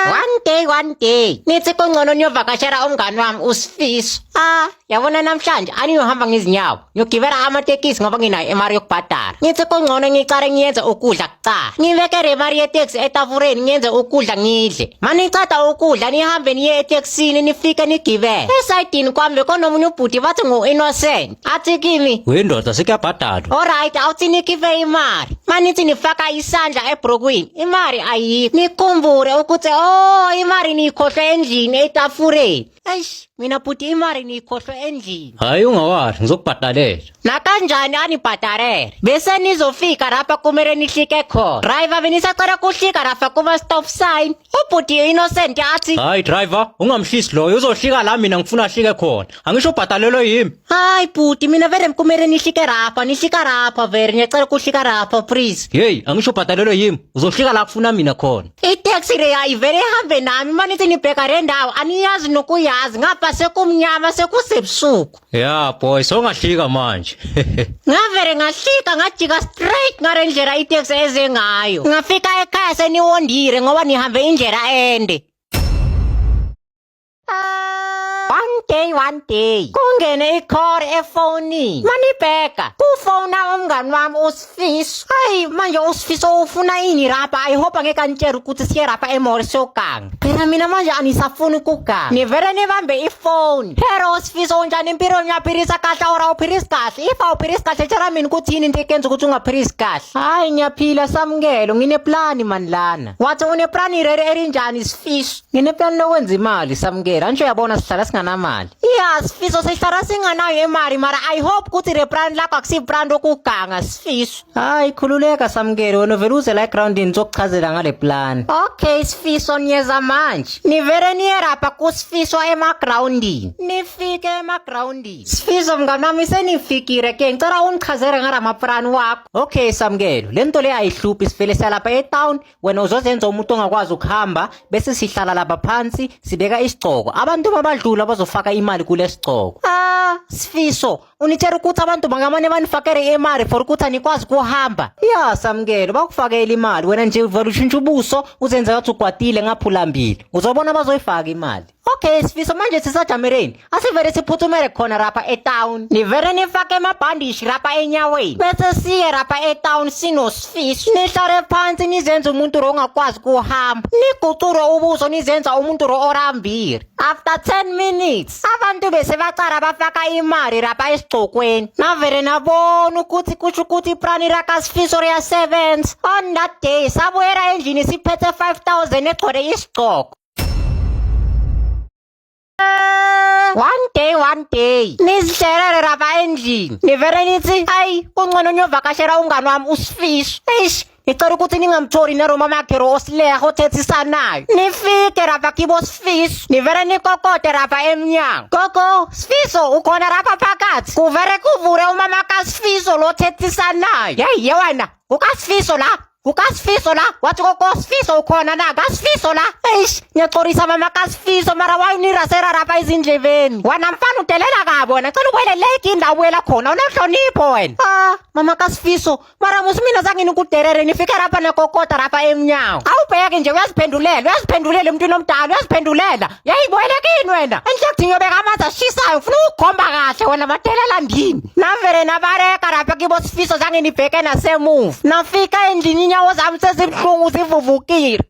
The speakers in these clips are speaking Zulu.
one day one day nithi kungcono niyovakashela umngani wami usifiso ah yabona namhlanje aniyohamba ngezinyawo ngiyogibela amatekisi ngoba nginayo imali yokubhadala nithi kungcono ngicale ngiyenze ukudla kucala ngibeke le mali yeteksi etafureni ngiyenze ukudla ngidle maniceda ukudla nihambe niye etekisini nifike nigibele esayidini kwami bekonomunye ubhuti bathi ngu-innocent athi kimi wendoda sekuyabhadalwa olright awuthi nikhife imali manithi nifaka isandla ebrokwini imali ayikho nikhumbule ukuthi o oh, imali niyikhohlwe endlini etafureni eish mina bhuti imali niyikhohlwe endlini hhayi ungawari ngizokubhadalela nakanjani anibhadalele bese nizofika lapha kumele nihlike khona driver benisacela kuhlika lapha kuma-stop sign Ubhuti innocent athi Hayi driver, ungamhlisi loyo uzohlika la mina ngifuna ahlike khona. Angisho ubhadalelo yimi. hayi bhuti mina vele mkumele nihlike rapha nihlika rapha vele ngiyacela ukuhlika rapha please. Hey, angisho ubhadalelo yimi. Uzohlika la kufuna mina khona. Itaxi le ayivele ihambe nami uma nithi nibheka le ndawo aniyazi nokuyazi ngapha sekumnyama sekusebusuku. ya boy songahlika manje ngavele ngahlika ngajika straight ngale ndlela iteksi eze ngayo ngafika ekhaya seniwondile ngoba nihambe indlela ende one day one day kungene ikhore efonini manibheka kufona umngani wami Sis, ay, manje usifiso ufuna ini rapa. I hope angeke anitshele ukuthi siye rapa emori sogang. Phela mina manje anisafuni ukugang. Nivele nibambe ifone. Hero usifiso unjani impilo ngiyaphilisa kahle or awuphilisi kahle. If awuphilisi kahle tshela mina ukuthi yini into ekenza ukuthi ungaphilisi kahle. Hayi ngiyaphila samukelo ngineplani mani lana. Wathi uneplani rere erinjani sifiso? Ngineplani lokwenza imali samukela nje uyabona sihlala singanamali. Yeah, sifiso sihlala singanayo imali mara I hope ukuthi le brand lakho akusi brand okuganga sifiso. Hayi khululeka samukele wena vele uze la ground nizokuchazela ngale plan. Okay sifiso niyeza manje. Nivele niyerapha kusifiso ema groundini. Nifike ema groundini. Sifiso mnganami senifikile ke ngicela ungichazele ngalama plan wakho. Okay samukelo lento le ayihluphi sivele salapha e town wena uzozenza umuntu ongakwazi ukuhamba bese sihlala lapha phansi sibeka isigcoko abantu babadlula bazofaka imali kule sigcoko ah sifiso unitshela ukuthi abantu bangamane banifakele imali for ukuthi anikwazi kuhamba ya samkelo bakufakela imali wena nje uvela ushintsha ubuso uzenza ukuthi ugwadile ngaphulambili uzobona bazoyifaka imali Okay, sifiso manje sisajamereni. Asivele siphuthumele khona rapha etown. Nivele nifake amabhandishi rapha enyaweni. Bese siye rapha etown sinosifiso. Nihlale phansi nizenze umuntu ro ongakwazi kuhamba. Nigucure ubuso nizenza umuntu ro orambile. After 10 minutes, abantu bese bacala bafaka imali rapha esigcokweni. Navele nabona ukuthi kusho ukuthi iprani rakasifiso riyasebenza. On that day, sabuyela endlini siphethe 5000 egcwele isigcoko. one day one day nizihlalele lapha endlini nivele nithi ayi kungcono niyovakashela umngani wami usifiso eish ngicela ukuthi ningamtholi neroma magero osileha othethisana nayo nifike lapha kibo sifiso nivele nikokode lapha emnyango gogo sifiso ukhona lapha phakathi kuvele kuvule umama kasifiso lothethisana nayo yeyi yewena ukasifiso la kukasifiso la wathi kosifiso ukhona na kasifiso la eish ngiyacorisa mama kasifiso mara wayinirasera rapha ezindlebeni wena mfana udelela kabi wena cela ukwele lake indawo ubuyela khona unohlonipho wena ah mama kasifiso mara musi mina zange nikuderere nifike rapha nekokota rapha emnyango awubheke nje uyaziphendulela uyaziphendulela emntwini omdala uyaziphendulela yayiboleka yini wena enhlekthi ngiyobeka amanzi ashisayo ngifuna ukukhomba kahle wena madelela ndini navele nabareka lapha kibo sifiso zange nibheke nasemuva nafika endlini inyawo zami sezibuhlungu zivuvukile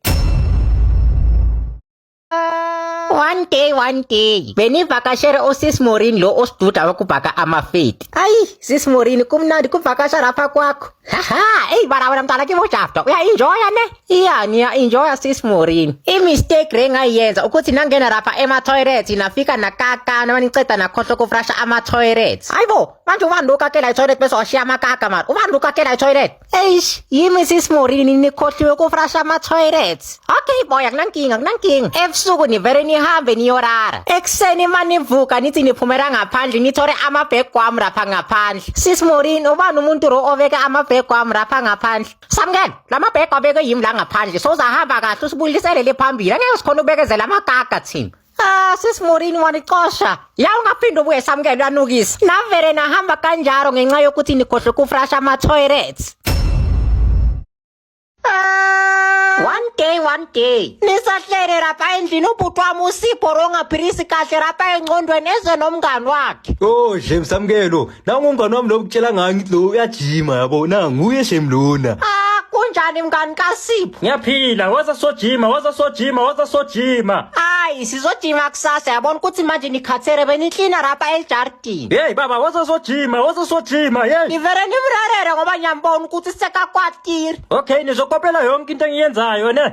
one day one day benivakashele usis morin lo osiduda wekubhaka amafeti ayi sis morin kumnandi kuvakasha lapha kwakho haha eyi bala wena mntana kimojafta uyainjoya ne Iya niya enjoy sis Morin. I mistake re ngayenza ukuthi nangena rapha ema toilet nafika nakaka noma niceda nakhohlwa ku fresha ama toilet. Hayibo, manje ubani lo kakela i toilet bese washiya amakaka mara. Ubani lo kakela i toilet? Eish, yimi sis Morin nikhohliwe ku fresha ama toilet. Okay boy, akunankinga, akunankinga. Ebusuku nivere nihambe niyorara. Ekuseni manivuka nithi niphumela ngaphandle nithore ama bag kwami rapha ngaphandle. Sis Morin, ubani umuntu ro oveka ama bag kwami rapha ngaphandle? Samukela lama bag abeke yimi la ngaphandle sozahamba kahle usibuyisele le phambili angeke sikhona ubekezela amagaga thina Ah, sis Morini wanicosha. Ya ungaphinde ubuye samukela uyanukisa. Navele nahamba kanjalo ngenxa yokuthi nikhohle ukufrasha ama toilets. Ah, one day one day. Nisahlele lapha endlini ubhuti wami usipho rongaphilisi kahle lapha engqondweni eze nomngani wakhe. Oh, James Samkelo, nangu umngane wami lo kutshela ngayo ngithi lo uyajima yabo na nguye shem lona Ah, kunjani mngani kaSipho? ngiyaphila waza sojima waza sojima waza sojima Hayi, sizojima kusasa yabona ukuthi manje nikhathele beniklina rapa eljardini. yeyi baba waza sojima waza sojima yeyi Ngivele ngimrarere ngoba ngiyambona ukuthi sekakwatiri. okay nizokopela yonke into engiyenzayo ne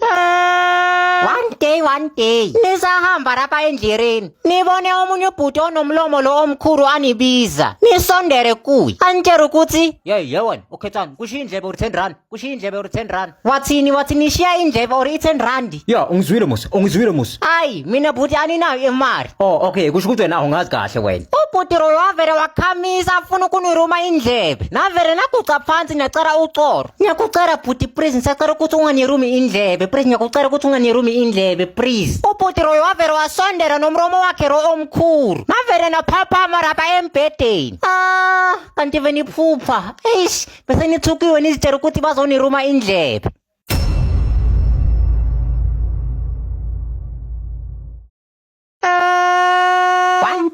one day one day nisahamba lapha endleleni nibone omunye ubhuti onomlomo lo omkhulu anibiza nisondere kuye anitshela ukuthi yeyi yewena ukhethani kushiya indlebe or ten rand kushiya indlebe or ten rand wathini wathi nishiya indlebe or i-ten randi ya ungizwile musa ungizwile musa ayi mina bhuti aninayo imali oh okay kusho ukuthi wena awungazi kahle wena ubhuti loyo wavele wakhamisa afuna ukuniruma indlebe navele naguca phansi nacela ucoro ngiyakucela bhuti please ngisacela ukuthi unganirumi indlebe please ngiyakucela ukuthi unganirumi indlebe please ubhuti loyo wavele wasondela nomromo wakhe lo omkhulu navele naphaphama lapha embhedeni ah kanti veniphupha eish bese nithukiwe nizitshela ukuthi bazoniruma indlebe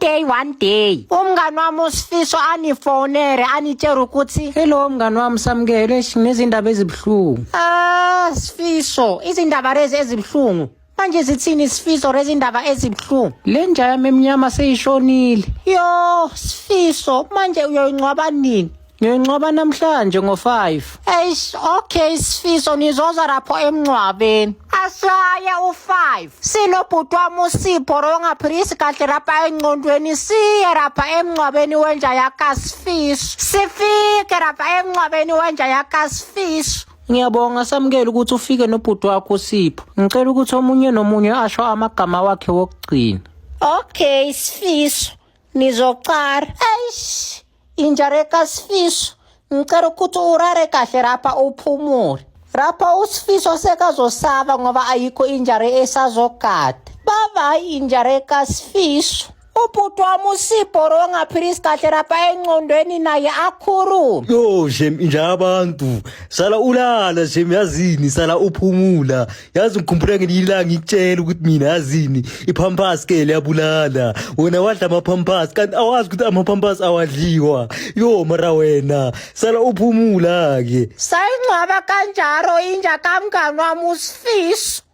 day one day umngani wami usifiso anifonere anitshela ukuthi hello mngani wami samukele nginezindaba ezibuhlungu ah sifiso izindaba lezi ezibuhlungu manje zithini isifiso rezindaba ezibuhlungu le nja yami emnyama seyishonile yo sifiso manje uyoyingcwaba nini ngiyoyingcwaba namhlanje ngo-5 eish okay sifiso nizoza lapho emngcwabeni ashaye u-5 sinobhuti wami usipho rongaphilisi kahle lapha engcondweni siye lapha emngcwabeni wenja yakasifiso sifike lapha emngcwabeni wenja yakasifiso Ngiyabonga samukela ukuthi ufike nobhuti wakho Sipho. Ngicela ukuthi omunye nomunye asho amagama wakhe wokugcina. Okay, Sifiso. Nizocara. Eish. Injareka Sifiso. Ngicela ukuthi urare kahle rapha uphumule. Rapha uSifiso sekazosaba ngoba ayikho injare esazogada. Bye bye injare kaSifiso. ubhuti wami usibhoro ngaphilisi kahle lapha encondweni naye akhulume yo shem inja abantu sala ulala shem yazini sala uphumula yazi ngikhumbula ngelinye ilanga ngikutshela ukuthi mina yazini iphampasi ke liyabulala wena wadla amaphampasi kanti awazi ukuthi amaphampasi awadliwa yo mara wena sala uphumula ke sayingcwaba kanjalo inja kamngani wami usifiso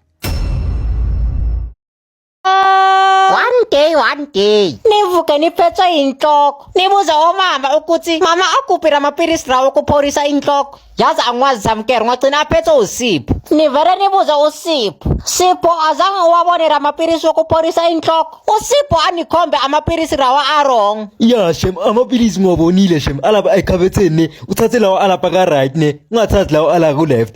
one day one day nivuke niphethwe yinhloko nibuza omama ukuthi mama akuphi ramapilisi lawo okuphorisa inhloko yazi angikwazi samkere ngagcina aphethwe usipho nivele nibuze usipho sipho azange uwabone ramapilisi okuphorisa inhloko usipho anikhombe amapilisi lawa arong ya shem amapilisi ngiwabonile shem alapha ekhabetheni ne uthathe lawo alapha ka-right ne ungathathi lawo ala ku-left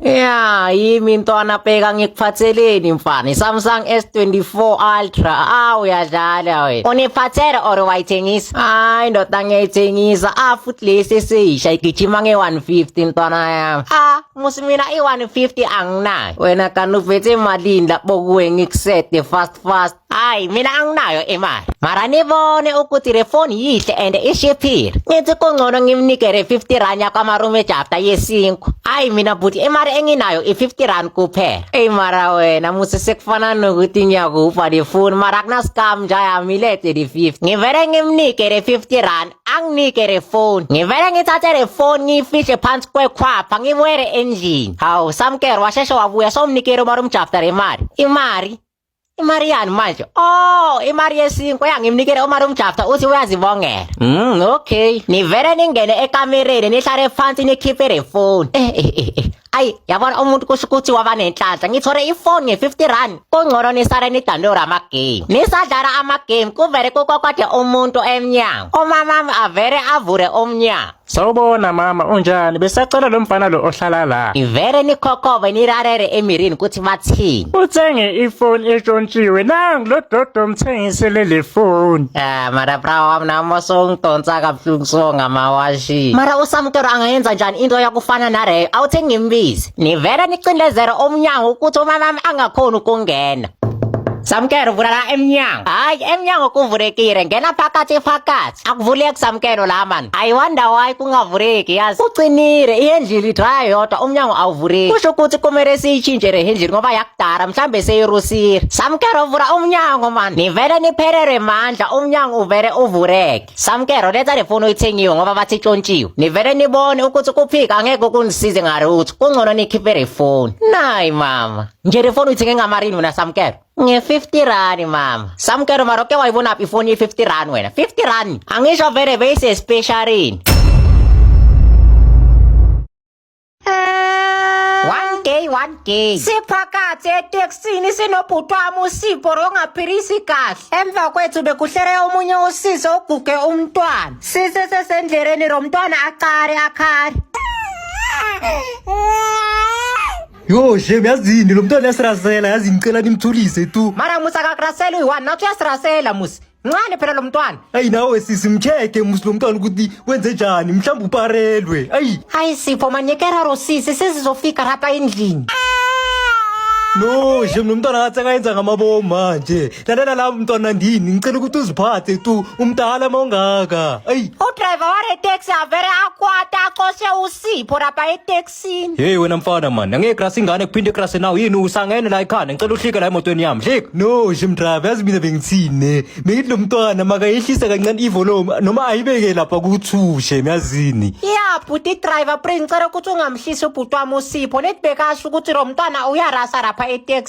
Ya, yimi ntwana bheka ngikuphatheleni mfana. Samsung S24 Ultra. Ah uyadlala wena. Uniphathele or wayithengisa? Hayi ndoda ngiyayithengisa. Ah futhi lesi esisha igijima nge-150 ntwana yami. Ah musi mina i-150 anginayo. Wena kanti uvethe imalini lapho kuwe ngikusete fast fast. Ay, mina anginayo imali. Mara nibone ukuthi le phone yihle and ishiphile. Ngithi kungcono ngimnikele 50 rand yakwaMarume Jafta yesinkwa. Ay mina bhuti imali enginayo i50 rand kuphela. Ey mara wena musi sekufana nokuthi ngiyakufa le phone mara kuna scam nje ayamilete le 50. Ngivele ngimnike le 50 rand anginike le phone. Ngivele ngithathe le phone ngiyifishe phansi kwekhwapha ngibuyele endlini. Hawu samkero washeshe wabuya somnikele uMarume Jafta le mali. Imali imari yani manje oh imari yesinkwa yangimnikela umari umjafta uthi uyazibongela mm okay nivele ningene ekamereni nihlale phansi nikhiphe le phone eh eh eh, eh. ayi yabona umuntu kusho ukuthi waba nenhlanhla ngithole ifoni nge-50 rand kungcono nisale nidandora amagame nisadlala amagame kuvele kukokwade umuntu emnyango umamami avele avule umnyango Sawubona mama, unjani? Besacela lo mfana lo ohlala la. Ngivele nikhokove nirarere emirini ukuthi bathini. Uthenge ifoni etshontshiwe. Nangu lo dodo mthengisele le foni. Ah, mara bra wami nami songidonsa kabuhlungu so ngamawashi. Mara usamtoro angayenza njani into yakufana nareyo? Awuthi ngimbize. Nivele nicindezere omnyango ukuthi umama wami angakhoni ukungena. Samkero vula la emnyango. Hayi, emnyango kuvulekile. Ngena phakathi phakathi. akuvuleki samkelo la mani i wonder why kungavuleki yazi ucinile ihendlili idrya yodwa umnyango awuvuleki kusho ukuthi kumele siyitshintshe le hendlili ngoba yakudala mhlambe seyirusile samkelo vula umnyango mani nivele niphelelwe mandla umnyango uvele uvuleke samkelo letha le foni uyithengiwe ngoba bathi itshontshiwe nivele nibone ukuthi kuphika angeke kunisize ngalutho kungcono nikhiphe le foni nayi mama nje le foni uyithenge ngamarino nasamkelo Nge-50 rand mama. Samkelo mara uke wayibona phi ifoni ye-50 rand wena? 50 rand. Angisho vele bese specialini. One day, one day. Siphakathi eteksini sinobhuti wami usipho rongaphilisi kahle. Emva kwethu bekuhlere omunye usisi oguge umntwana. Sise sesendleleni romntwana acare akhare. Yo, shem yazini lo mntwana yasirasela yazi ngicela nimthulise tu. Mara musa akakurasela uyi-one nathi uyasirasela musi. Mncane phela lo mntwana. Ayi nawe sisi mcheke musi lo mntwana ukuthi wenze njani mhlawumbe uparelwe. Ayi Hayi Sipho manyekera ro sisi sesizofika lapha endlini. no shem lo mntwana ngathi akayenza ngamabomu manje. Lalela la mntwana ndini ngicela ukuthi uziphathe tu umdala mawungaka. Ayi Udriver ware taxi avere akwata axoshe uSipho lapha eTaxi. Sin. Hey wena mfana man, angeke grasa ingane kuphinde grasa nawe yini usangene la ekhanda ngicela uhlike la emotweni yami. Hlika. No, Jim Drive, yazi mina bengithini. Bengithi lo mntwana makayehlisa kancane ivolume noma ayibeke lapha kuthushe, myazini. Ya bhuti driver pre ngicela ukuthi ungamhlisi ubhuti wami usipho let bekasho ukuthi lo mntwana uyarasa lapha eTax.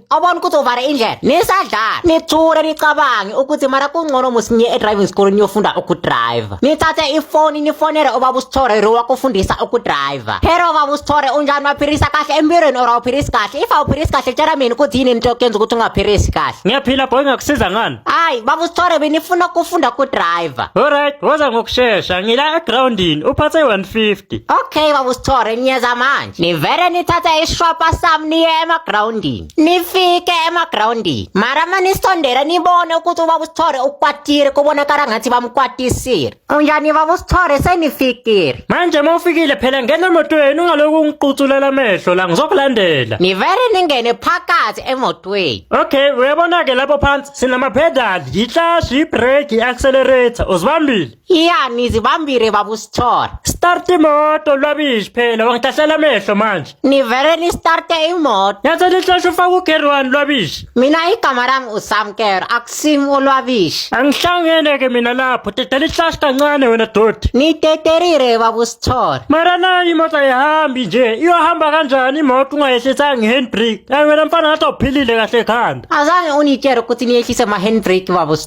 awubona ukuthi uvale indlela nisadlala nithule nicabange ukuthi mara kungcono musinye e-driving school niyofunda ukudrayiva nithathe ifoni nifonele ubaba usithore ro wakufundisa ukudrayiva hero ubaba usithore unjani waphilisa kahle empilweni or awuphilisi kahle if awuphilisi kahle tshela mina ukuthi yini into yokuyenza ukuthi ungaphilisi kahle ngiyaphila boy ngakusiza ngani hayi baba usithore benifuna ukufunda ukudrayiva alright woza ngokushesha ngila egroundini uphathe 150 okay baba usithore niyeza manje nivele nithathe ishwapa sami niye emagrawundini nifike emagrawundini mara ma nisondela nibone ukuthi ubaba usithore ukwatile kubonakala ngathi bamkwatisile unjani baba usithore senifikile manje ma ufikile phela ngena emotweni ungaloku ungiquthulela amehlo la ngizokulandela nivele ningene phakathi emotweni okay uyabona-ke lapho phansi sinamaphedali yihlashi ibreak i-accelerator uzibambile iya nizibambile babusithole Start imoto lwabishi phela wangidahlela amehlo manje. nivele nistarte imoto Yathi lihloshe ufaka ugeri wani lwabishi. mina igama lami usamkero akusim ulwabishi Angihlangene ke mina lapho dedela ihlashi kancane wena doti. niteterire babusithole Mara nayo imoto ayihambi nje iyohamba kanjani imoto ungayehlisa ngehandbrake. Ayi wena mfana ngathi awuphilile kahle ekhanda. azange unitshele ukuthi niyehlise ma-handbrake babusithole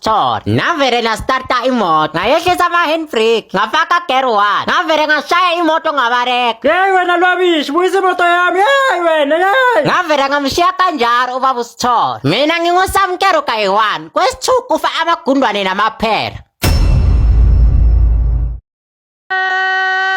Chor. Navere nga starta imot. Nga yehle sa ma handbrake. Nga faka gear one. Navere nga shaya imoto nga barek. Yey wena lwabishi buyisa imoto yami yey wena yey Ngavele ngamshiya kanjalo ubaba uSithole. Mina ngingusamkero kayi-1 kwesithuku kufa amagundwane namaphela.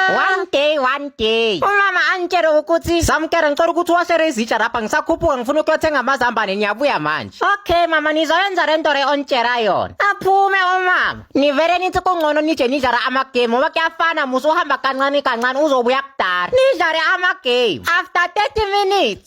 one day one day umama angitshele ukuthi samkere ngicela ukuthi uwashere izitsha lapha ngisakhuphuka ngifuna ukuyothenga amazambane ngiyabuya manje okay mama nizoyenza le nto re ontshela yona aphume umama nivele nithi kungcono nije nidlala amagame ngoba kuyafana musa uhamba kancane kancane uzobuya kudala nidlale amagame after 30 minutes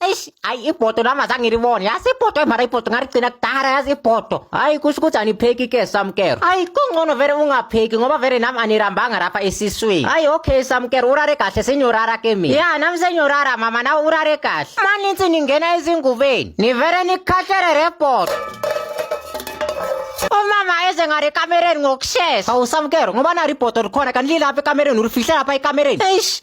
eish ayi ibhodo lami azange ngilibone yazi ibhodo emara ibhodo ngaligcina kudala yazi ibhodo hayi kusho ukuthi anipheki ke samkero hayi kungcono vele ungapheki ngoba vele nami anirambanga rapha esiswini hayi okay samkero urare kahle senyorara ke mina ya nami senyorara mama nawe urare kahle maninsi ningena ezingubeni nivele nikhahlele rebhodo umama eze ngari ekamereni ngokushesha awusamkero ngoba nari ibhodo likhona kanti lilapha ekamereni ulifihle lapha ekamereni eish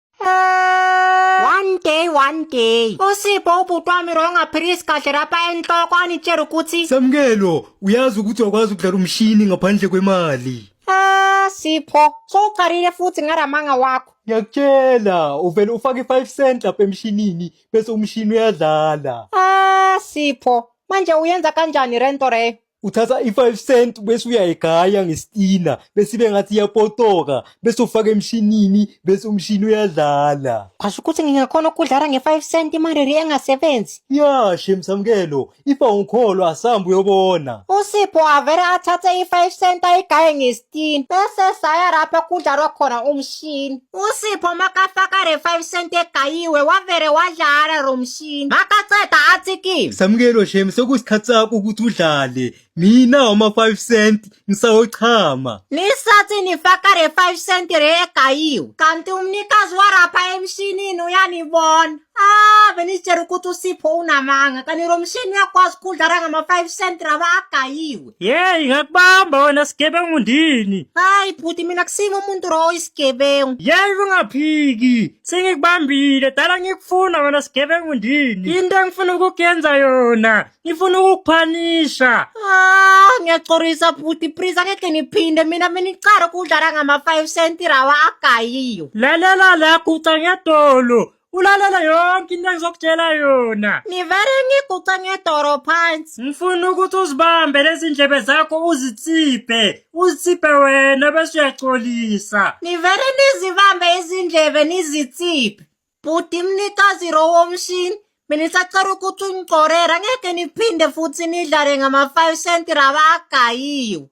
one day one day usipho ubhuti wami wrong aphilisi kahle lapha enhloko anitshela ukuthi samukelo uyazi ukuthi wakwazi ukudlala umshini ngaphandle kwemali ah sipho sowuqalile futhi ngaramanga wakho ngiyakutshela uvele ufake i-five cent lapha emshinini bese umshini uyadlala ah sipho manje uyenza kanjani rento reyo uthatha i-five cent bese uyayigaya ngesitina bese ibe ngathi iyapotoka bese ufaka emshinini bese umshini uyadlala Kwasho ukuthi ngingakhona ukudlala nge-5 cent imariri engasebenzi. ya shem samkelo ifa ungikholwa asambe uyobona Usipho avele athathe i-5 cent ayigaye ngesi 15 bese saya lapha kudlalwa khona umshini usipho makafaka re 5 cent egayiwe wavere wadlala lo mshini makaceda athi kimi samukelo shem sekusikhathi sakho ukuthi udlale mina wama 5 cent ngisawochama nisathi nifaka re 5 cent re egayiwe kanti umnikazi warapha emshinini uyanibona ah benitshela ukuthi usipho unamanga kanti lo mshini uyakwazi ukudlala ngama-5 cent raba agayiwe Yeyi ngakubamba wena sigebengu ndini. Hayi bhuti mina kusimo umuntu ro oyisigebengu. Yeyi ungaphiki. Sengikubambile dala ngikufuna wena sigebengu ndini. Into engifuna ukukuyenza yona. Ngifuna ukukuphanisha. Ah, ngiyacorisa bhuti please angeke niphinde mina mina icaro kudlala ngama 5 cent rawa agayiyo. Lalela la guca ngedolo. ulalela yonke into engizokutshela yona ngivele ngiguce ngedoro phansi ngifuna ukuthi uzibambe lezi ndlebe zakho uzitsiphe uzitsiphe wena bese uyaxolisa ngivele nizibambe izindlebe nizitsiphe bhuti mnikazi ro womshini mina isacela ukuthi ungigcorera ngeke niphinde futhi nidlale ngama-five cent raba agayiwe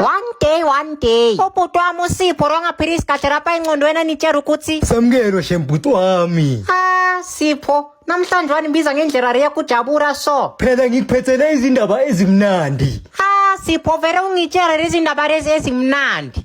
one day one day ubhuti wami usipho rongaphiria isikhathi lapha engqondweni anitshera ukuthi samukelo shembhuti wami ah sipho namhlanje wanimbiza ngendlela riya kujabura so phela ngikuphethele izindaba ezimnandi ah sipho vele ungitshera lezindaba lezi ezimnandi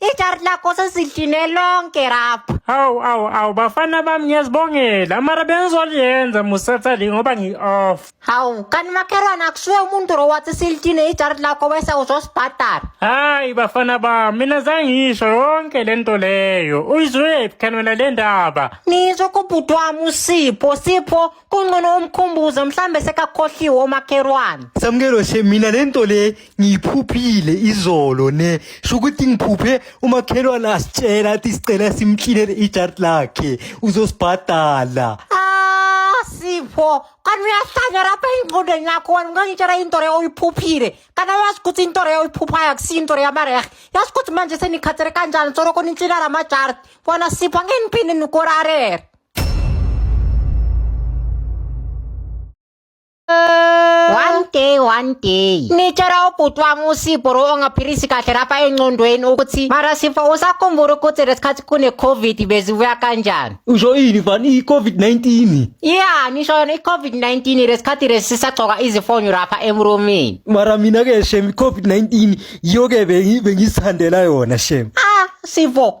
Ijari lakho sesihline lonke rapha. Awu awu awu bafana bami ngiyazibongela. Mara bengizoliyenza musatha le ngoba ngi-off. Hawu, kanti makhelwane akusuye umuntu lo wathi silithine ijari lakho bese uzosibhadala. Hayi bafana bami mina zangisho yonke le nto leyo. Uyizwephi khani wena le ndaba? Nizwe kubhuti wami uSipho, Sipho kuncono umkhumbuze mhlambe sekakhohliwe omakherwane samukelo she mina le nto le ngiyiphuphile izolo ne sho ukuthi ngiphuphe umakhelwane asitshela athi sicela simklinele ijard lakhe uzosibhadala Ah, sipho kanti uyahlanya lapha engqondweni yakho wena ungangitshela into leyo oyiphuphile kanti awazi ukuthi into leyo oyiphuphayo akusiyo into leyo yamarehe yazi ukuthi manje senikhathele kanjani soloko nintshinala amajardi wena sipho angeniphinde nikorarere one day one day nitshela ubhuti wami usipho lo ongaphilisi kahle lapha engcondweni ukuthi mara sipho usakhumbula ukuthi lesikhathi kune-covid bezibuya kanjani usho ini fani i-covid-19 ya nisho yona i-covid-19 lesikhathi lesi sisagcoka izifonyo lapha emrumini mara mina-ke shem i-covid-19 yiyo-ke bengi- bengizithandela yona shem ah sipho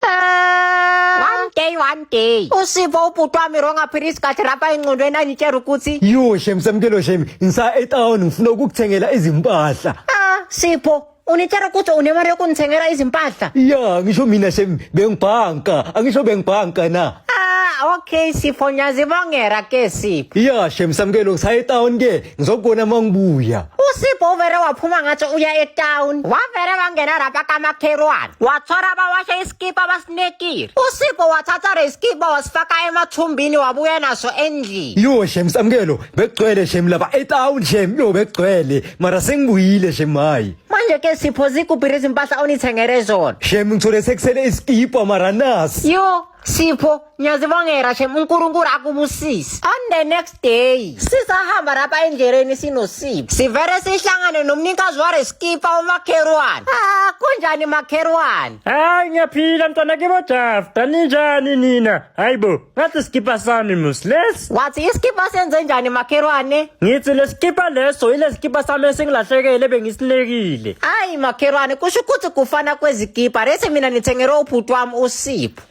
One day, one day. Usivo ubhuti wami wrong aphila isikhathi rapha engqondweni angitshela ukuthi Yo shem samkelo shem ngisa etown ngifuna ukukuthengela izimpahla. ah Sipho unitshela ukuthi unemali yokunithengela izimpahla. Ya ngisho mina shem bengibhanka angisho bengibhanka na. Ah okay Sipho ngiyazibongera ke Sipho. Ya shem samkelo ngisa etown ke ngizokubona uma ngibuya usipho uvere waphuma ngathi uya etown wavere wangena rapa kamakherwane wathora bawashe isikipa basinekile usipho wathatha resikipa wasifaka emathumbini wabuya naso endlini yo shem samkelo bekugcwele shem laba etown shem yo bekugcwele mara sengibuyile shem hayi manje ke sipho zikuphi izimpahla onithengele zona shem ngithole sekusele isikipa mara nasi yo Sipho, ngiyazibongela shem uNkulunkulu akubusise. On the next day, sisahamba lapha endleleni sinosipho. Sivele sihlangane nomnikazi wareskipa umakherwane. Ah, kunjani makherwane? Hayi ngiyaphila mntwana kibo Jafta, ninjani nina? Hayibo, ngathi sikipa sami mus lesi. Wathi iskipa senze njani makherwane? Ngithi lesikipa leso ilesikipa sami esingilahlekele bengisilekile. Hayi makherwane, kusho ukuthi kufana kwezikipa. Lesi mina ngithengelwe ubhuti wami uSipho. Sipho.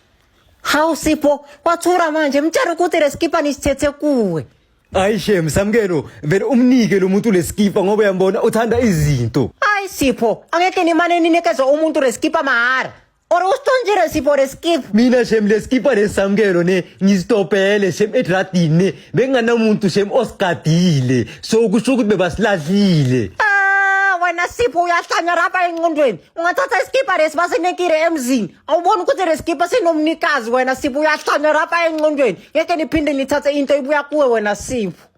Hawu Sipho, wathura manje mtshela ukuthi lesikipa nisithethe kuwe. Hayi shem samkelo vele umnike lo muntu lesikipa ngoba uyambona uthanda izinto. Hayi Sipho, angeke nimane ninikeze umuntu lesikipa mahara. Or usithonjile Sipho lesikipa. Mina shem lesikipa lesamkelo ne ngistopele shem edradini ne benganamuntu shem osigadile. So kusho ukuthi bebasilahlile. Ah, wena Sipho uyahlanya lapha enqondweni. ungathatha isikipa lesi basinekile emzini awuboni ukuthi le sikipa sinomnikazi wena sipho uyahlanya rapa enqondweni ngeke niphinde nithathe into ibuya kuwe wena sipho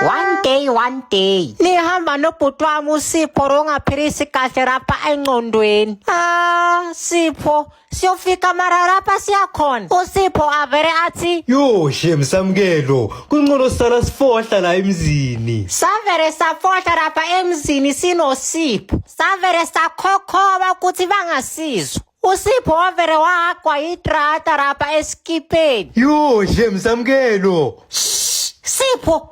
one day one day nihamba nobhuti wami usipho rongaphilisi kahle rapa enqondweni ah sipho siyofika mara lapha siyakhona usipho avele athi yo shem samkelo kuncono sisala sifohla la emzini savele safohla lapha emzini sinosipho savele sakhokhoba ukuthi bangasizwa usipho wavele wagwa yitrata lapha esikipeni yo shem samkelo sipho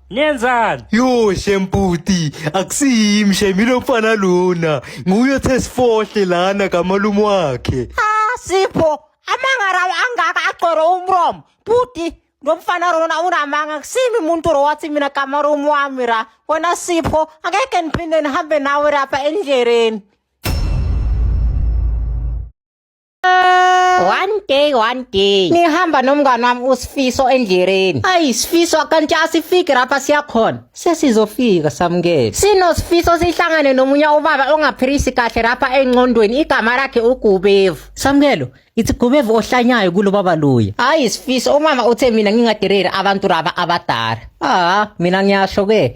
Nenzani? Yo shemputi akusiyimi shemi lo mfana lona nguye othe sifohle lana kamalume wakhe Ah Sipho, amanga lawo angaka agcwele umromo. Bhuti, lo mfana lona unamanga kusimi umuntu lo wathi mina gama room wami ra. Wena Sipho, angeke ngiphinde nihambe nawe lapha endleleni. one day one day ngihamba nomngane wami usifiso endleleni ayi sifiso kanti asifiki lapha siyakhona sesizofika samukele sinosifiso sihlangane nomunye ubaba ongaphilisi kahle lapha engqondweni igama lakhe ugubevu samukelo ithi gubevu ohlanyayo kulo baba luya hayi sifiso umama uthe mina ngingadereri abantu laba abadala ah mina ngiyasho ke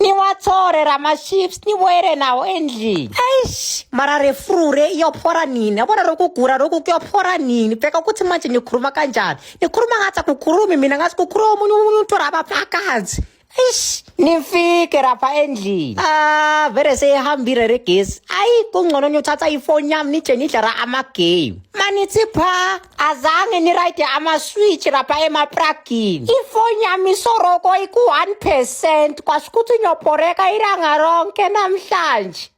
niwathore ramaships nibuyele nawo endlini eish mara refrure iyophora nini yabona loku kugura loku kuyophora nini bheka ukuthi manje nikhuluma kanjani nikhuluma ngathi akukhulumi mina ngathi kukhuluma omunye umuntu rabafakazi eish nifike rapha endlini ah vele seyihambile regesi ayi kungcono niyothatha ifoni yami nije nidlala amagame manithi phaa azange ni ride ama-switch lapha emapragini ifoni yami isoroko iku-one percent kwasho ukuthi nyobhoreka ilanga ronke namhlanje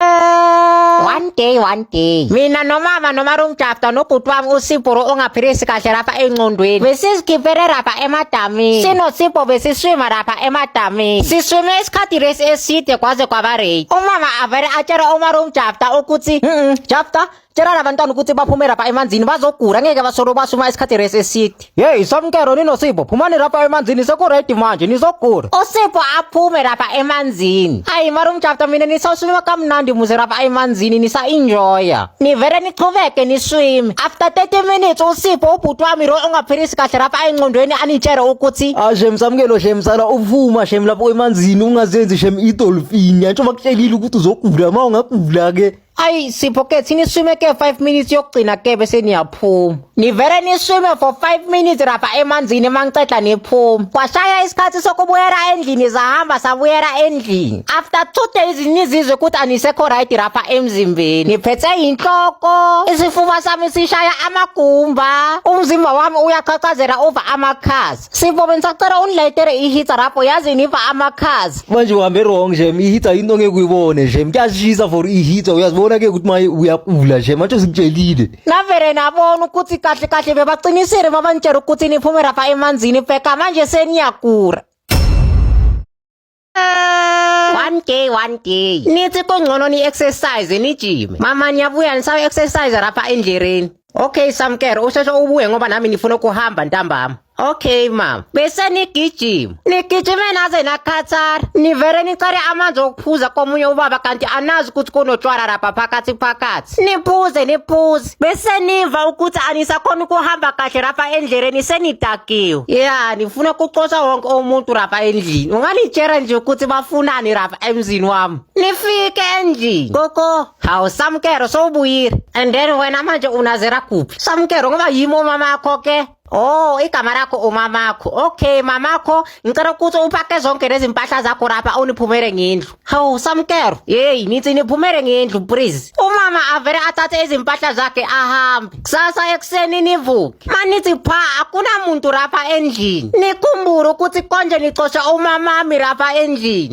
one day one day mina nomama nomarumjafta nobhuti wami usibhuru ongaphilisi kahle lapha engqondweni besizigibele lapha emadamini sinosibho besiswima lapha emadamini siswime isikhathi lesi eside kwaze kwaba rate umama avele atshela umarumjafta Jafta ukuthi Jafta tshela labantwana ukuthi baphume lapha emanzini bazogula ngeke basolo basuma isikhathi resi eside yeyi somkero ninosipho phumani lapha emanzini sekuredi manje nizogula usipho aphume lapha emanzini ayi mara umjafta mina nisawuswima kamnandi muze lapha emanzini nisa-enjoya nivele nichubeke niswime after 30 minutes usipho ubhuti wami lo ongaphilisi kahle lapha engqondweni anitshele ukuthi ashem samkelo shem sala uvuma shem lapho emanzini ungazenzi shem idol Fini antsho bakutshelile ukuthi uzogula uma ungagula ke. Ayi Sipho ke thini swime ke 5 minutes yokugcina ke bese niyaphuma. Nivele niswime for 5 minutes rapha emanzini mangiceda niphuma. Kwashaya isikhathi sokubuyela endlini zahamba sabuyela endlini. After 2 days nizizwe ukuthi anisekho right rapha emzimbeni. Niphethe inhloko, isifuba sami sishaya amagumba, umzimba wami uyaqhaqhazela over amakhasi. Sivome ngisacela ungilayitele ihitha lapho yazi niva amakhazi. Manje uhambe wrong nje ihitha into ongeke uyibone nje. Mkuyashisa for ihitha uyazibona ke ukuthi maye uyapula nje manje usikutshelile. Navele nabona ukuthi kahle kahle bebaqinisile babanitshela ukuthi niphume lapha emanzini pheka manje seniyagura. one day one day nithi kungcono ni-exercise nijime mama niyabuya nisawu-exercise rapha endlereni okay samkere usheshe ubuye ngoba nami ngifuna ukuhamba ntambama okay mama bese nigijima nigijime naze nakhathara nivele nicele amanzi okuphuza komunye ubaba kanti anazi ukuthi kunotshwala rapha phakathi phakathi niphuze niphuze left bese niva ukuthi anisakhona ukuhamba kahle rapha endleleni senidakiwe ya nifuna kucosha wonke umuntu rapha endlini ungalitshela nje ukuthi bafunani rapha emzini wami nifike endlini koko hawu samkero sowubuyile and then wena manje unazera kuphi samkero ngoba yimi umama akho ke Oh, igama lakho umamakho. Okay, mamakho, ngicela ukuthi upake zonke lezi mpahla zakho lapha uniphumele ngendlu. Hawu, samkero. Hey, nithi niphumele ngendlu please. Umama avele athathe izimpahla zakhe ahambe. Kusasa ekuseni nivuke. Manithi pha akunamuntu lapha endlini. Nikhumbule ukuthi konje nicosha umamami lapha endlini.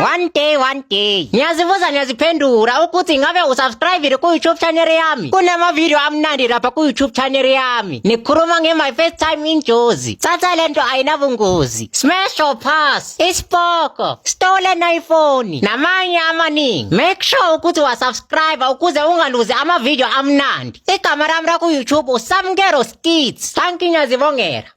One day one day ngiyazibuza ngiyaziphendula ukuthi ingabe usubscribile ku-youtube channel yami kunamavidiyo amnandi lapha ku-youtube channel yami nikhuluma nge-my first time injozi thatha le nto ayinabungozi smash or pass isipoko stolen iphone namanye amaningi make sure ukuthi wasubscribe ukuze ungaluzi amavidiyo amnandi igama lami laku-youtube usamkero skits thank you ngiyazibongela